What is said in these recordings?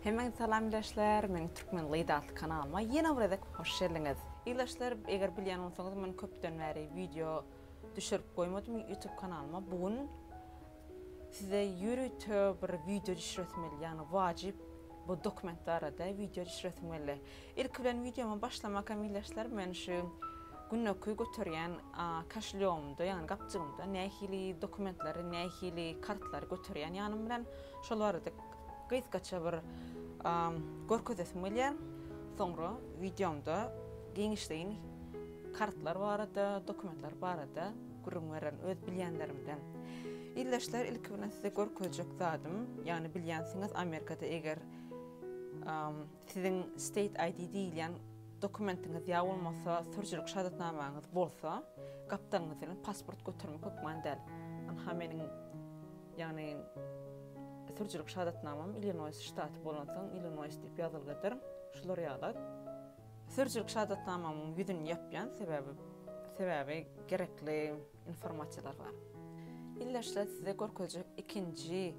Hemäňizi salam ildeşler, meniň Türkmen Lady atly kanalyma ýene bir gezek hoş geldiňiz. Ildeşler eger bilýän bolsaňyz men köpden bäri wideo düşürip goýmadym YouTube kanalyma bu gün size ýörite bir wideo düşüresim geldi ýagny wajyp bu dokument barada wideo düşüresim geldi. Ilki bilen wideoma başlamaka meýilleşler men şu güneki göterýän kaşlýomda ýagny gapjygymda nähili dokumentleri nähili kartlary göterýän ýanym bilen şol barada gysgaça bir görkezesim gelýär soňra wideomda giňişleýin kartlar barada dokumentler barada gürrüň bererin öz bilýänlerimden Illeşler ilki bilen size görkezjek zadym ýagny bilýänsiňiz Amerikada eger Siziň State ID diýilýän dokumentiňiz ýa bolmasa sürüjilik şahadatnamaňyz bolsa, gapdalyňyzda bilen pasport götermek hökman däl. Ynha meniň, ýagny sürüjilik şahadatnamam Illinois ştaty bolansoň Illinois diýip ýazylgydyr. Şular ýaly. Sürüjilik şahadatnamamyň ýüzüni ýapýan, sebäbi sebäbi gerekli. informasiýalar bar. Ildeşler size görkezjek ikinji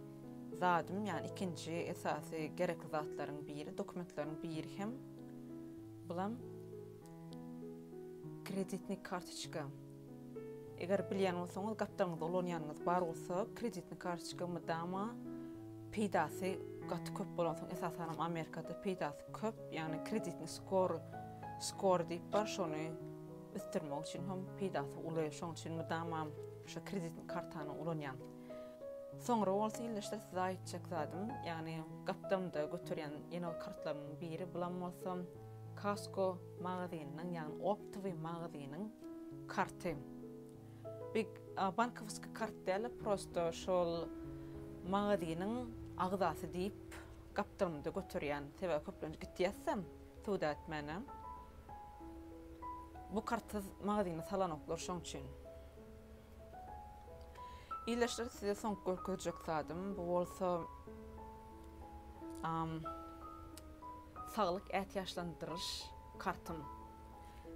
zadym, ýagny ikinji esasy gerekli zatlaryň biri, dokumentleriň biri hem bulam kreditni kartoçka. Eger bilýän bolsaňyz, gapdalňyzda ulanýanyňyz bar bolsa, kreditni kartoçka mydama peýdasy gaty köp bolan soň, esasan hem Amerikada peýdasy köp, ýagny kreditni skor, skor diýip bar, şony ösdürmek üçin hem peýdasy uly. Şonuň üçin mydama şu kreditni kartany ulanýan. Soňra bolsa ildeşler size aýtjak zadym, ýagny gapdalymda göterýän ýene bir kartlarymyň biri bulam bolsa Costco magazynynyň, ýagny optowy magazynyň karty. Bi bankowyskiý kart däl-de, prosta şol magazynyň agzasy diýip gapdalymda göterýän. Sebäbi köplenç gitýäs-de. Sudat mena bu kartsyz magazyny salanoklar şoň üçin. Ildeşler size soňky görkezjek zadym bu bolsa saglyk ätiýaçlandyryş kartym.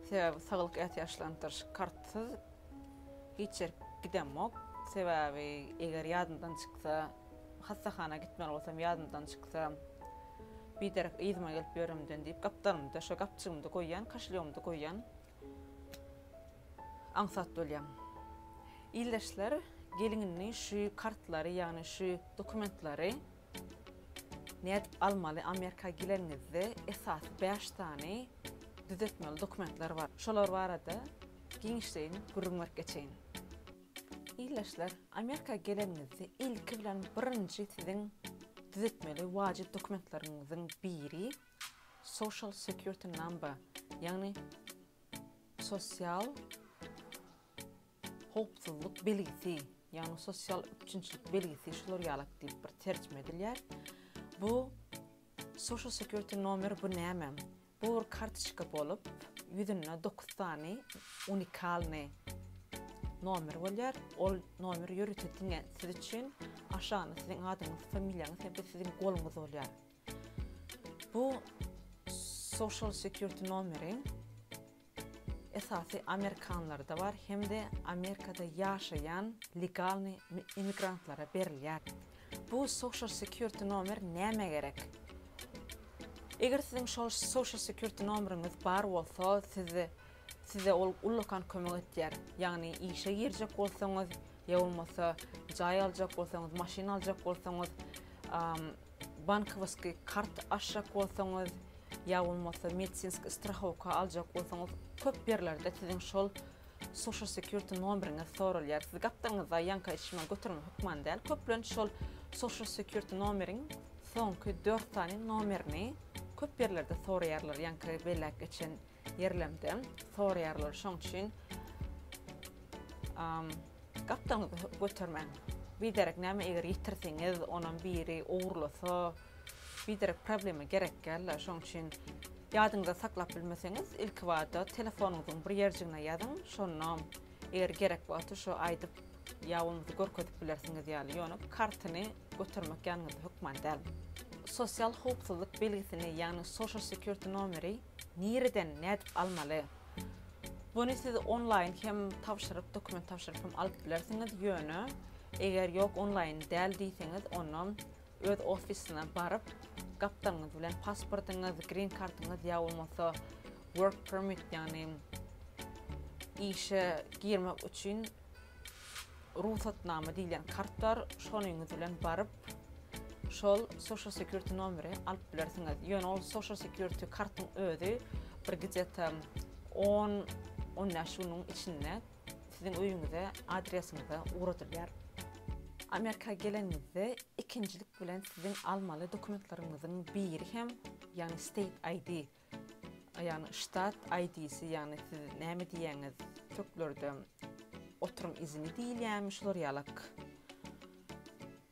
Sebäbi saglyk ätiýaçlandyryş kartsyz hiç ýerik gidemok. Sebäbi eger ýadymdan çyksa. Hassahana gitmeli bolsam ýadymdan çyksa, biderek yzyma gelip ýöremden diýip, gapdalymda şo gapjygymda goýýan, kaşlýomda goýýan aňsat bolýan. Ildeşler gelinini şu kartlary ýagny şu dokumentlary nädip almaly Amerika gileniňizde esasy bäş sany düzetmeli dokumentler bar. Şolar barada giňişleýin gürrüň berip geçeýin. Ildeşler, Amerika geleniňizde ilki bilen birinji siziň düzetmeli wajyp dokumentleriňiziň biri Social Security Number, ýagny sosial howpsuzlyk belgisi, ýagny sosial üpjünçilik belgisi şular ýalak diýip bir terjime edilýär. Bu Social Security Nomer bu näme? Bu bir kartoçka bolup, ýüzünde dokuz sany unikalnyý nomer bolýar. Ol nomer ýörite diňe siz üçin, aşagynda siziň adyňyz, familiýaňyz hem-de siziň goluňyz bolýar. Bu Social Security nomeri. esasy amerikanlarda bar hem-de Amerikada ýaşaýan legalny immigrantlara berilýär. Bu social security nomer nämä gerek? Eger siziň social security nomeriňiz bar bolsa, siz size ol ullakan kömek etýär. Ýagny işe girjek bolsaňyz ýa bolmasa jaý aljak bolsaňyz, maşyn aljak bolsaňyz, Bankowoskiý kart açjak bolsaňyz, ýa bolmasa medisinskiý strahowka aljak bolsaňyz, köp ýerlerde siziň şol Social Security nomeriňiz soralýar. Siz gapdalyňyzda ýaňka hiç nima götermek hökman däl, köplenç şol Social Security nomeriň soňky dört sany nomerini köp ýerlerde soraýarlar, ýaňky belläp geçen. ýerlemde soraýarlar. Şoň üçin gapdaňyzy götermäň. Biderek näme eger ýitirseňiz, onam biri ogurlasa, biderek problema gerek däl-de. Şoň üçin ýadyňyzda saklap bilmeseňiz, ilkibada telefonyňyzyň bir ýerjigine ýazyň, şonda eger gerek wagty şu aýdyp ýa bolmasa görkezip bilersiňiz ýaly. Ýöne kartyny götermek ýanyňyzda hökman däl. Sosial howpsuzlyk belgisini, ýagny Social Security nomeri Nireden, nädip almaly? Buny siz onlaýyn hem tabşyryp, dokument tabşyryp hem alyp bilersiňiz, ýöne eger ýok onlaýyn däl diýseňiz, onda öz ofisyna baryp, gapdalňyz bilen pasportyňyz, green kartyňyz ýa bolmasa work permit, ýagny işe girmek üçin, Rugsatnama diýilýän kart bar, şonyňyz bilen baryp, şol Social Security nomeri alyp bilersiňiz. Ýöne ol Social Security kartyň özi bir gidýata on, on bäş günüň içinde siziň öýüňize, adresiňize ugradylýar. Amerika geleniňizde ikinjilik bilen siziň almaly dokumentleriňiziň biri hem, ýagny State ID. Ýagny ştat aýdisi ýagny siz näme diýýäňiz türklerde oturyň izini diýilýärmi şular ýalak.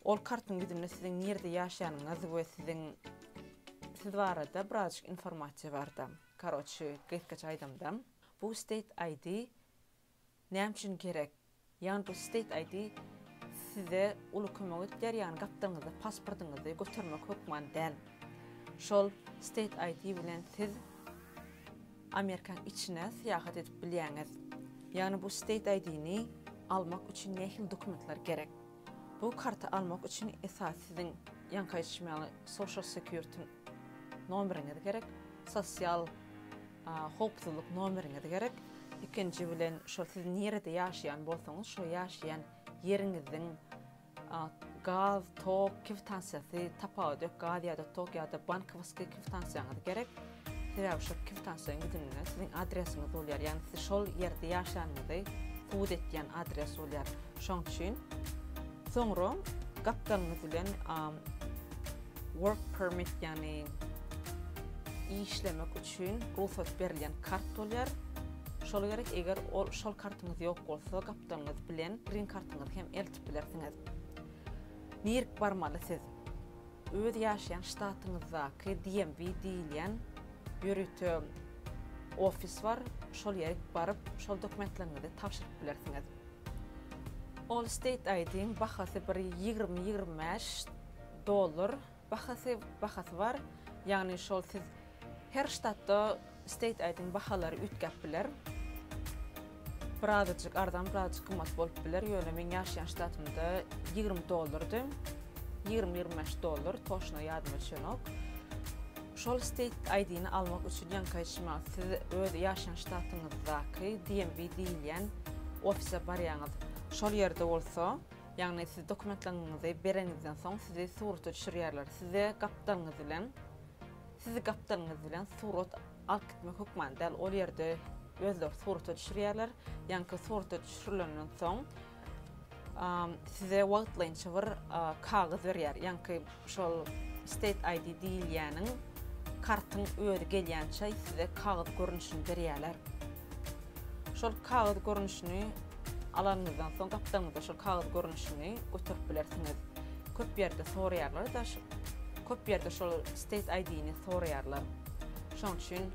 Ol kartyň ýüzünde siziň nirde ýaşanyňyz we siziň siz barada birazjyk informasiýa barda. Karoçi gysgaça aýdamda bu state aýdi Näme üçin gerek? Ýagny bu state ID size uly kömek edýär, ýagny gapdalyňyzda pasportyňyzy götermek hökman däl. Şol state ID bilen siz Amerikanyň içine syýahat edip bilýäňiz. Ýagny bu state ID-ni almak üçin nähili dokumentler gerek? Bu karty almak üçin esasy siziň ýaňky aýdyşym ýaly social security nomeriňiz gerek, sosial Howpsuzlyk nomeriňiz gerek. Ikinji bilen şo siz nirede ýaşaýan bolsaňyz şo ýaşaýan ýeriňiziň gaz, tok kwitansiýasy tapawudy ýok gaz ýa-da tok ýa-da bankowaskiý kwitansiýaňyz gerek. Sebäbi şo kwitansiýaň ýüzünde siziň adresiňiz bolýar ýagny siz şol ýerde ýaşanyňyzy subut etýän adres bolýar. Şoň üçin soňra gapdalňyz bilen. Work permit ýagny işlemek üçin rugsat berilýän kart bolýar. Şol gerek eger ol şol kartyňyz ýok bolsa gapdalyňyz bilen green kartyňyzy hem eltip bilersiňiz. Nirik barmaly siz? Öz ýaşaýan ştatyňyzdaky DMV diýilýän ýörite ofis bar. Şol ýerik baryp şol dokumentleriňizi tabşyryp bilersiňiz. Allstate ID-iň bahasy bir ýigrimi ýigrimi bäş Dollar bahasy bahasy bar. Ýagny şol siz her ştatda state aýdyň bahalary üýtgäp biler. Bir azajyk arzan bir azajyk gymmat bolup biler ýöne meň ýaşaýan ştatymda ýigrimi dollardy. Ýigrimi ýigrimi bäş dollar toşna ýadyma düşenok. Şol state aýdyny almak üçin ýaňkyç maňa siz öz ýaşaýan ştatyňyzdaky DMV diýilýän ofise barýaňyz. Şol ýerde bolsa Ýagny siz dokumentlaňňyzy bereniňizden soň sizi surata düşürýärler. Size gapdalyňyz bilen sizi gapdalyňyz bilen surat alyp gitmek hökman däl, ol ýerde özleri surata düşürýärler. Ýaňky surata düşürilenden soň size wagtlaýynça bir kagyz berýär. Ýaňky Şol State ID diýilýäniň kartyň özi gelýänçä size kagyz görnüşini berýärler. Şol kagyz görnüşini alanyňyzdan soň gapdalňyzda şol kagyz görnüşini göterip bilersiňiz. Köp ýerde soraýarlar-da, köp ýerde şol State ID-ni soraýarlar. Şonuň üçin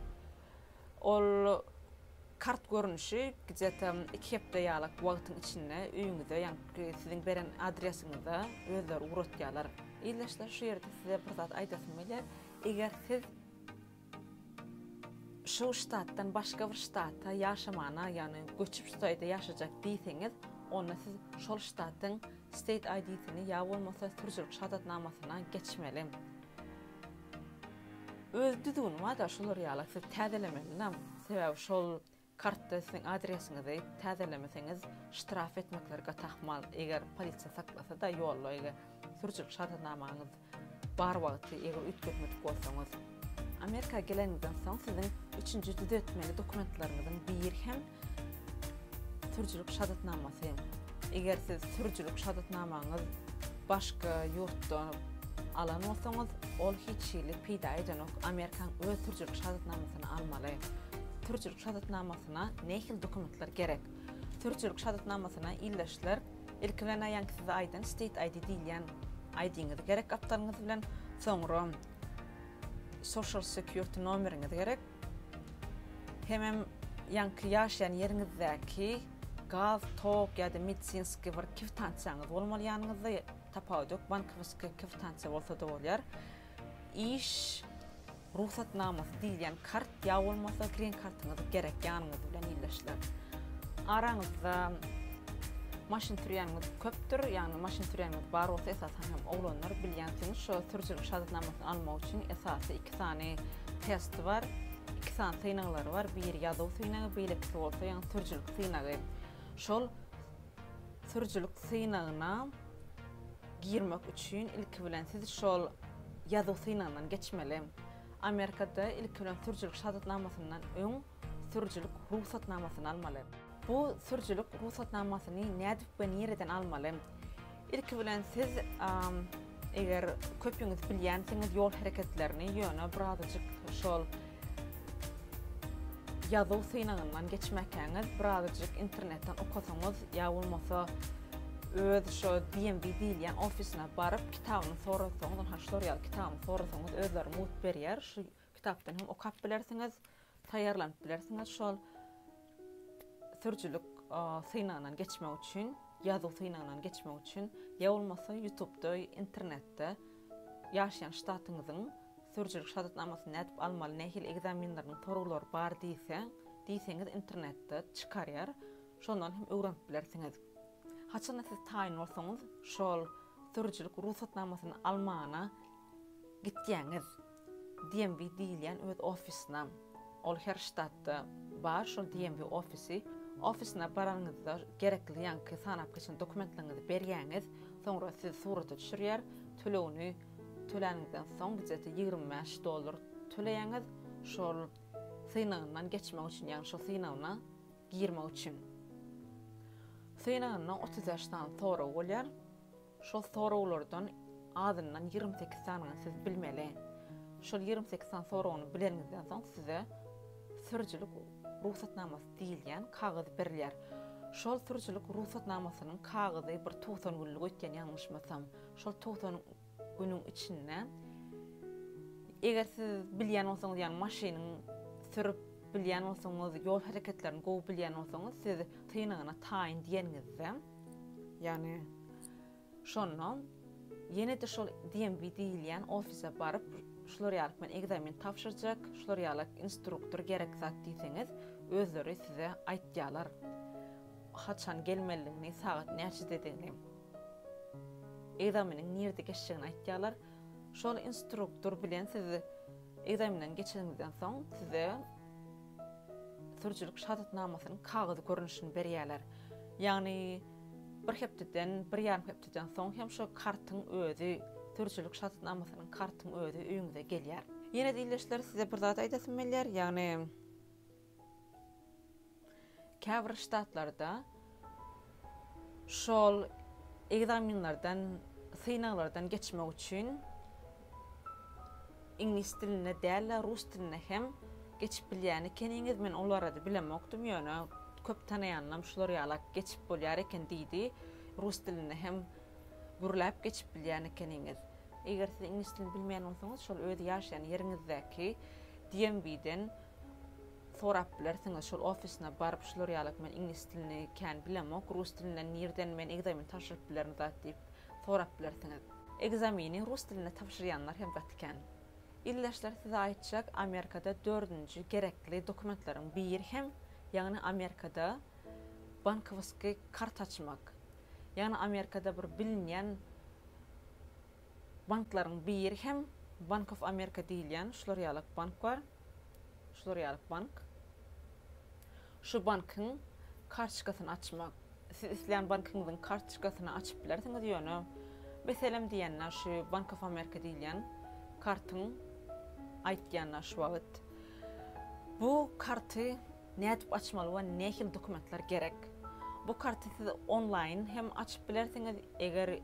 Ol kart görnüşi gde-ta iki hepde ýalak wagtyň içinde öýüňize, ýagny siziň beren adresiňize özleri ugratýarlar. Ildeşler şu ýerde size bir zat aýdasym gelýär. Eger siz şu ştatdan başga bir ştata ýaşamana, ýagny göçüp şu taýda ýaşajak diýseňiz, onda siz şol ştatyň state ID-sini ýa bolmasa sürüjilik şahadatnamasyna geçmeli. Öz düzgün bada şular ýala siz täzelemelinam sebäbi şol kartda siziň adresiňizi täzelemeseňiz ştraf etmekler gat ahmal eger polisiýa saklasada ýolda eger sürüjilik şahadatnamaňyz bar wagty eger üýtgetmedik bolsaňyz. Amerika geleniňizden soň siziň üçünji düzetmeli dokumentlaryňyzyň biri hem Sürüjilik şadatnamasy, Eger siz sürüjilik şadatnamaňyz başga ýurtda alan bolsaňyz, ol hiç hili peýda edenok, Amerikaň öz sürüjilik şadatnamasyny almaly. Sürüjilik şadatnamasyna nähili dokumentler gerek? Sürüjilik şadatnamasyna ildeşler ilki bilen aýaňky size aýdan State ID diýilýän ID-ňiz gerek gapdalyňyz bilen, soňra Social Security nomeriňiz gerek, Hemem ýaňky ýaşaýan ýeriňizdäki gaz, tok ýa-da medisinskiý bir kwitansiýaňyz bolmaly ýanyňyzda, tapawudy ýok, bankowiskiý kwitansiýa bolsa-da bolýar. Iş rugsatnamasy diýilýän kart ýa bolmasa grin kartyňyz gerek ýanyňyz bilen ildeşler. Araňyzda maşyn sürýäniňiz köpdür, ýagny maşyn sürýäniňiz bar bolsa, esasan hem oglanlar bilýänsiňiz, şo sürüjilik şahadatnamasyny almak üçin esasy iki sany testi bar. Iki sany synaglary bar. Biri ýazuw synagy, beýlekisi bolsa ýaňy sürüjilik synagy. Şol sürüjilik synagyna girmek üçin ilki bilen siz şol ýazuw synagyndan geçmeli. Amerikada ilki bilen sürüjilik şahadatnamasyndan öň sürüjilik rugsatnamasyny almaly. Bu sürüjilik rugsatnamasyny nädip we nireden almaly? Ilki bilen siz eger köpüňiz bilýänsiňiz ýol hereketlerini ýöne birazajyk şol ýazuw synagyndan geçmäkäňiz birazajyk internetden okasaňyz ýa bolmasa öz şo DMV diýilýän ofisine baryp kitabyny sorasaňyz ynha şular ýaly kitabyny sorasaňyz özleri mugt berýär şu kitapdan hem okap bilersiňiz. Taýýarlanyp bilersiňiz şol sürüjilik synagyndan geçmek üçin ýazuw synagyndan geçmek üçin ýa bolmasa ýutubda internetde ýaşaýan ştatyňyzyň sürüjilik şadatnamasyny nädip almaly nähili ekzaminleriniň soraglar bar diýse diýseňiz internetde çykarýar şondan hem öwrenip bilersiňiz haçanda siz taýyn bolsaňyz şol sürüjilik rugsatnamasyny almana gitýäňiz. DMV diýilýän öz ofisynam, ol her ştatda bar, şol DMV ofisi, ofisyna baranyňyzda gerekli ýaňky sanap geçen dokumentleriňizi berýäňiz, soňra sizi surata düşürýär, tölegini töläniňizden soň gijesi ýigrimi bäş dollar töleýäňiz, şol synagyndan geçmek üçin, ýagny şol synagyna girmek üçin. Synagynda otuz bäş sany sorag bolýar. Şol soraglardan azyndan ýigrimi sekiz sanyny siz bilmeli. Şol ýigrimi sekiz sany soragyny bileniňizden soň size sürüjilik rugsatnamasy diýilýän kagyz berilýär. Şol sürüjilik rugsatnamasynyň kagyzy bir tugsan günlük öýtýän ýalňyşmasam. Şol tugsan günüň içinde eger siz bilýän bolsaňyz ýagny maşynyň sürüp bilýän bolsaňyz ýol hereketlerini gowy bilýän bolsaňyz siz synagyna taýyn diýeniňizde, Ýagny şondan ýene-de şol DMV diýilýän ofise baryp, şular ýaly men ekzamen tabşyrjak, şular ýaly instruktor gerek zat diýseňiz, özleri size aýtýarlar. Haçan gelmelidigini, sagat näçededigini. Ekzameniň nirde geçjegini aýtýarlar. Şol instruktor bilen siz ekzamenden geçeniňizden soň size sürüjilik şahatnamasynyň kagyz görnüşini berýärler. Ýagny bir hepdeden, bir ýarym hepdeden soň hem şo kartyň özi, sürüjilik şahatnamasynyň kartyň özi öýüňize gelýär. Ýene-de ildeşler size bir zat aýdasym gelýär, ýagny käbir ştatlarda, Şol ekzaminlerden, synaglardan geçmek üçin iňlis dilinde däl-de, rus dilinde hem geçip bilýän ekeniňiz. Men ol barada bilemokdym, ýöne köp tanaýanlam şular ýalak geçip bolýar eken diýdi. Rus dilinde hem gürläp geçip bilýän ekeniňiz. Eger siz iňlis dilini bilmeýän bolsaňyz, şol öz ýaşaýan ýeriňizdäki DMV-den Sorap bilersiňiz şol ofisine baryp şular ýaly men iňlis dilini kän bilemok rus dilinden nirden men ekzamen tabşyryp bilerin zat diýip sorap bilersiňiz. Ekzameni rus dilinde tabşyrýanlar hem gaty kän. Ildeşler size aýtjak Amerikada dördünji gerekli dokumentleriň biri hem ýagny Amerikada bankowoskiý karta açmak. Ýagny Amerikada bir bilinýän Banklaryň biri hem Bank of America diýilýän şular ýalak bank bar. Şular ýalak bank. Şu bankyň kartoçkasyny açmak. Siz islän bankyňyzyň kartoçkasyny açyp bilersiňiz ýöne meselem diýende şu Bank of America diýilýän kartyň aýtýanda şu wagt bu karty nädip açmaly we nähili dokumentler gerek? Bu karty siz onlaýyn hem açyp bilersiňiz eger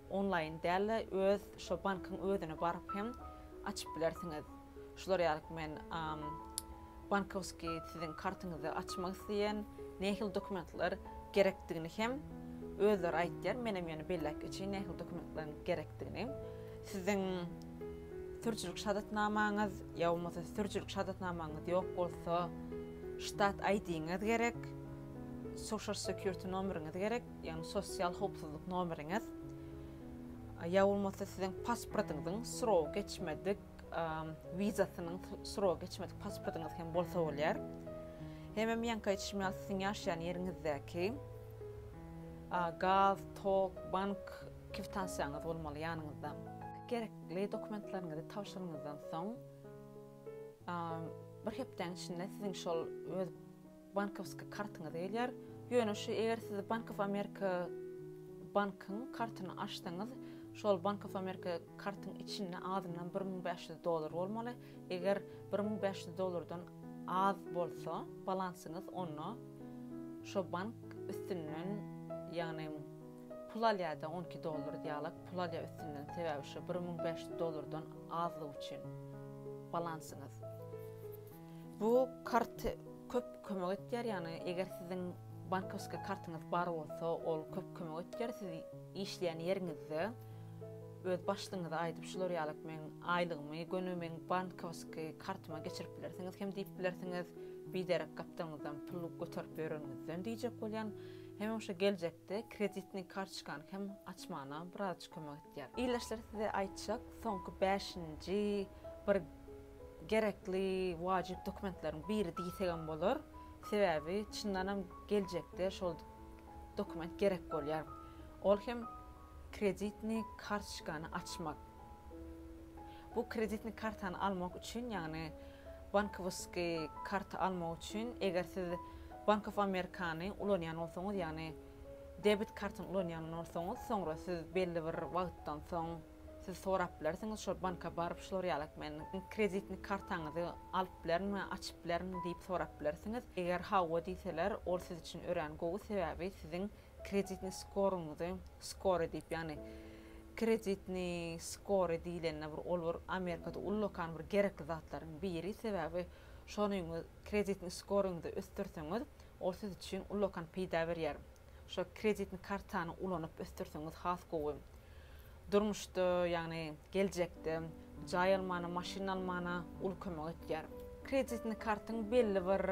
Onlaýyn däl-de, öz şo bankyň özüne baryp hem açyp bilersiňiz. Şular ýalyk men bankowskiý siziň kartyňyzy açmak isleýän, nähili dokumentler gerekdigini hem özleri aýtýar. Menem ýöne belläp geçeýin nähili dokumentlaryň gerekdigini. Siziň sürüjilik şadatnamaňyz ýa bolmasa sürüjilik şadatnamaňyz ýok bolsa, ştat ID-ňiz gerek, social security nomeriňiz gerek. ýagny sosial howpsuzlyk nomeriňiz ýa bolmasa siziň pasportyňyzyň srogy geçmedik wizasynyň srogy geçmedik pasportyňyz hem bolsa bolýar. Hemem ýaňky aýdyşym ýaly siziň ýaşaýan ýeriňizdäki gaz, tok, bank kwitansiýaňyz bolmaly ýanyňyzda. Gerekli dokumentlerinizi tabşyranyňyzdan soň bir hepdäň içinde siziň şol öz Bankowski kartyňyz gelýär. Ýöne şu eger siz Bank of America bankyň kartyny açsaňyz, şol Bank of America kartyň içinde azyndan bir müň bäş ýüz dollar bolmaly. Eger bir müň bäş ýüz dollardan az bolsa balansyňyz, onda şo bank üstünden, ýagny pul alýar-da, on iki dollar diýalak, pul alýar üstünden, sebäbi şu bir müň bäş ýüz dollardan azlygy üçin balansyňyz. Bu kart köp kömek etýär, ýagny eger siziň bankowski kartyňyz bar bolsa, ol köp kömek etýär. Siz işleýän ýeriňizde öz başlygyňyza aýdyp, şular ýalyk meň aýlygymy göni meň bankowski kartyma geçirip bilersiňiz hem diýip bilersiňiz. Biderek gapdalňyzdan pul göterip ýörenňizden diýjek bolýan. Hemem şu geljek de kreditnyý kartoçkany hem açmana birazjyk kömek etýär. Ildeşler size aýtjak soňky bäşinji bir gerekli wajyp dokumentleriň biri diýsegem bolar. Sebäbi çyndanam geljekde şol dokument gerek bolýar. Ol hem kreditnyý kartoçkany açmak. Bu kreditni kartany almak üçin, ýagny bankowoski karty almak üçin, eger siz Bank of Amerikany ulanýan bolsaňyz, ýagny debit kartyny ulanýan bolsaňyz, soňra siz belli bir wagtdan soň siz sorap bilersiňiz, şol banka baryp şular ýalak men kreditni kartaňyzy alyp bilermi, açyp bilermi diýip sorap bilersiňiz. Eger hawa diýseler, ol siz üçin örän gowy, sebäbi siziň Kreditni skoruňyzy, skore diýip, ýagny kreditni skore diýlende bir ol bir Amerikada ullakan bir gerekli zatlaryň biri, sebäbi şonyňyz kreditni skoruňyzy ösdürseňiz, ol siz üçin ullakan peýda berýär. Şo kreditni kartany ulanyp ösdürseňiz has gowy. Durmuşda, ýagny geljekde jaý almana, maşyn almana uly kömek etýär. Kreditni kartyň belli bir.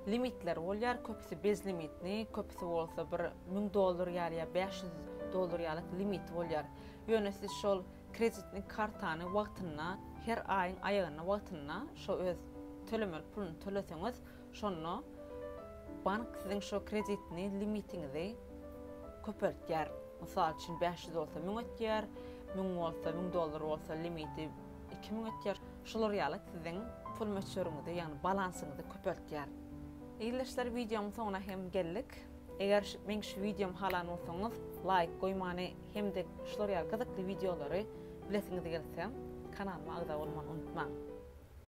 limitleri bolýar, köpüsi bezlimitni, köpüsi bolsa bir müň dollar ýaly ýa bäş ýüz dollar ýalyk limiti bolýar. Ýöne siz şol kreditni kartany wagtynda, her aýyň aýagynda wagtynda şo öz tölemeli puluny töleseňiz, şonda bank siziň şo kreditni limitiňizi köpeltýär. Mysal üçin bäş ýüz bolsa müň etýär, müň bolsa, müň dollar bolsa limiti, iki müň etýär. Şular ýaly siziň pul möçberiňizi, ýagny balansyňyzy köpeltýär. Ildeşler wideomyň soňuna hem geldik. Eger meň şu wideomy halan bolsaňyz, laýk goýmany hem-de şular ýaly gyzykly wideolary bilesiňiz gelse, kanalyma agza bolmany unutmaň.